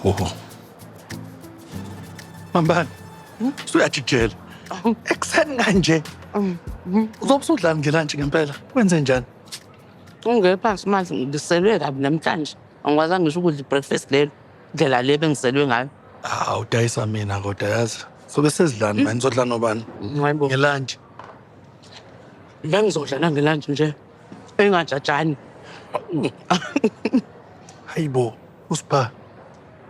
Oho. Mambani, usuyajijela. Ekuseni kanje. Uzobe usudlani ngelantshi ngempela? Kwenze njani? Ungeke phansi manje ngiselwe kabi namhlanje. Angikwazi ngisho ukudla i-breakfast lelo. Ndlela le bengiselwe ngayo. Ah, udayisa mina kodwa yazi. Sobe sesidlani manje, sodla nobani? Hayibo. Ngelantshi. Bengizodla nangelanje nje. engajajani hayibo usipha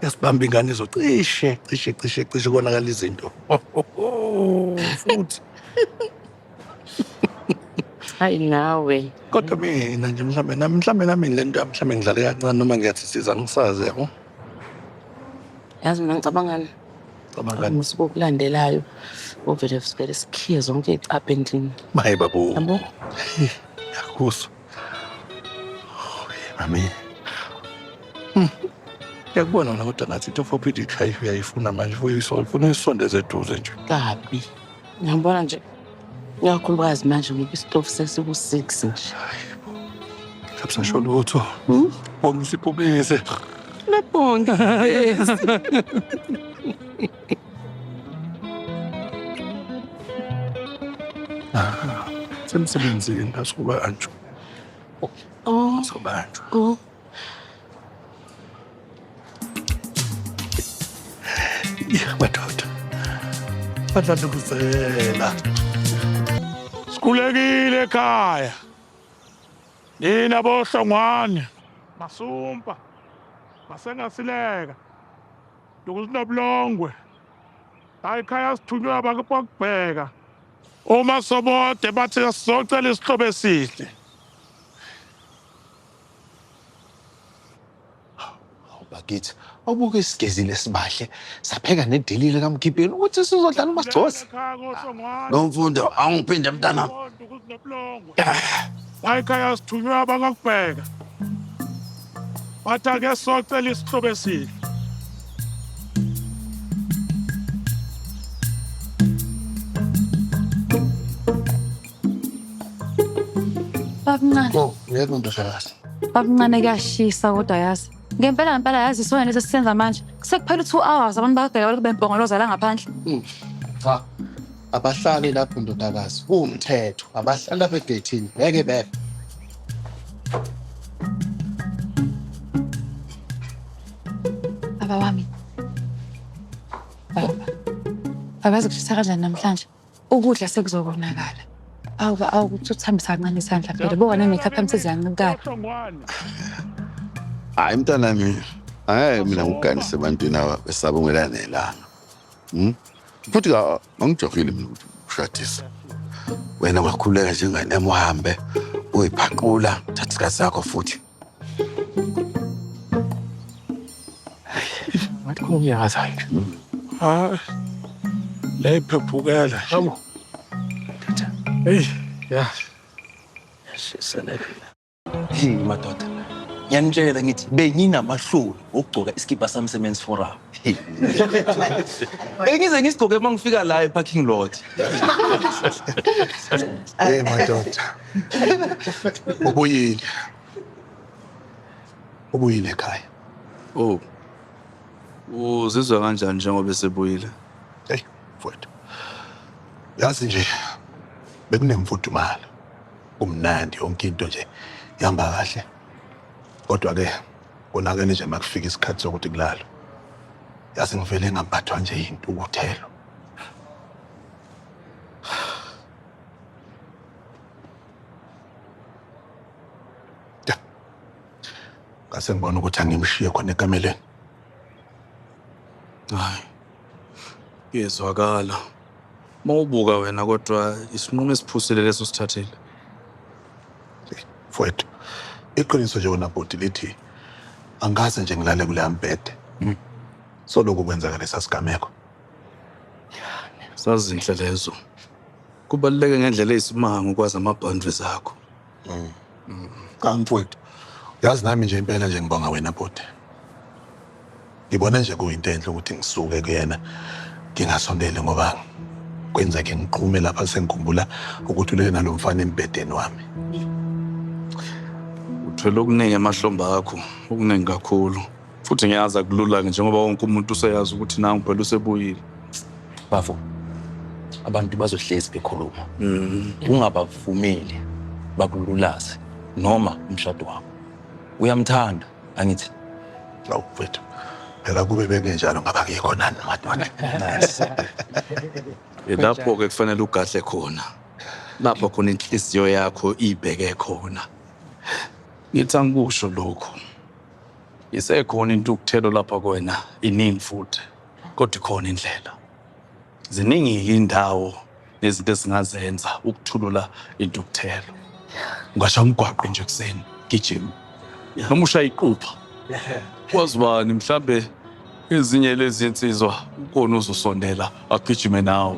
yasibamba ingane zo cishe cishe cishe cishe konakala izinto futhi hayi nawe kodwa mina nje mhlambe nami mhlambe nami le nto yami mhlambe ngidlale kancane noma ngiyathi siza ngisazi yabo yazi mina ngicabangani Cabangani? Ngosuku okulandelayo uvele sivele sikhiye zonke iy'cabha endlini. Maye babo. Yabo? Yakuzwa. Mami. Hmm. Yakubona wena kodwa ngathi into for PD khaya uyayifuna manje uyifuna uyisondeze eduze nje. Kabi. Ngiyabona nje ikakhulukazi manje ngoba isitofu sesiku-six nje Absasho lutho. Bonga usiphumise. lebonge Semsebenzini asobanjwa. oh Asobanjwa. oh madoda badlandukuzela sikhulekile ekhaya nina bohlongwane masumpa masengasileka ndukusinobulongwe hayi khaya sithunywe abantu bokubheka uma sobode bathi sizocela isihlobo esihle bakithi awubuke isigezile sibahle sapheka nedelile kamgibheni ukuthi sizodlala uma sigcoza lo mfundo awungiphinde mntana wayikhaya sithunywe abangakubheka wathi ake socela isihlobo esihle Babncane. Oh, ngeke undodakazi. Babncane kuyashisa kodwa yazi. Ngempela ngempela yazi isona lesi sisenza manje. Sekuphela u2 hours abantu bakugela lokho bembongoloza la ngaphandle. Hmm. Cha. Abahlali lapho ndodakazi. Kuwumthetho. Abahlali lapha egethini. Ngeke bebe. Baba wami. Baba. Baba zikushisa kanjani namhlanje? Ukudla sekuzokonakala. Awu ba- awu ukuthi uthambisa kancane isandla vele bo wena ngikhatha msizi yancikala. Hayi mntana mina. Hayi mina ngiganise ebantwini aba besaba umelana nelanga. Hmm? Futhi ka angijokile mina ukuthi ushadisa. Wena ungakhuleka njengane uhambe uyiphaqula thatha isikhathi sakho futhi. ngathi kungiyaza nje hayi la iphephukela yabo eyi ya yashiselekile hey madoda ngiyanitshela ngithi benginamahloni okugcoka isikibha sami semen's forum bengize ngisigcoke uma ngifika la eparking lot Hey madoda. ubuyile ubuyile ekhaya oh uzizwa kanjani njengoba esebuyile hey mfowethu yazi nje bekunemfudumalo kumnandi yonke into nje ihamba kahle kodwa ke konakele nje makufika isikhathi sokuthi kulalwe yazi ngivele ngaphathwa nje yintukuthelo ngase ngibona ukuthi angimshiye khona ekameleni hayi kuyezwakala uma ubuka wena kodwa isinqumo esiphusile leso sithathile mfowethu iqiniso nje wena bhuti lithi angikaze nje ngilale kuleya mbhede hmm. soloku kwenzeka lesa sigameko sazinhle lezo Kubaluleke ngendlela eyisimanga ukwazi ama-boundaries akho. Cha mfowethu, yazi nami nje impela nje ngibonga wena bhuti. Ngibona nje kuyinto enhle ukuthi ngisuke kuyena ngingasondeli ngoba kwenzeke ngiqhume lapha sengikhumbula ukuthi ulele nalo mfana embhedeni wami. Uthwele okuningi emahlombe akho, okuningi kakhulu. futhi ngiyazi akulula-ke njengoba wonke umuntu useyazi ukuthi nangu phela usebuyile bafo abantu bazohlezi bekhuluma ungabavumeli bakululaze noma umshado wakho uyamthanda angithi Awu mfethu. Phela kube bengenjalo ngaba kuyekho nani madoda. lapho-ke kufanele ugadle khona lapho khona inhliziyo yakho ibheke khona ngithi angikusho lokhu Isekhona intukuthelo lapha kwena iningi futhi kodwa ikhona indlela. Ziningi-ke indawo nezinto esingazenza ukuthulula intukuthelo. Ungasha umgwaqo nje ekuseni gijima noma ushaya iqupha. Kwazi bani mhlambe ezinye lezi nsizwa ukhona uzosondela agijime nawe.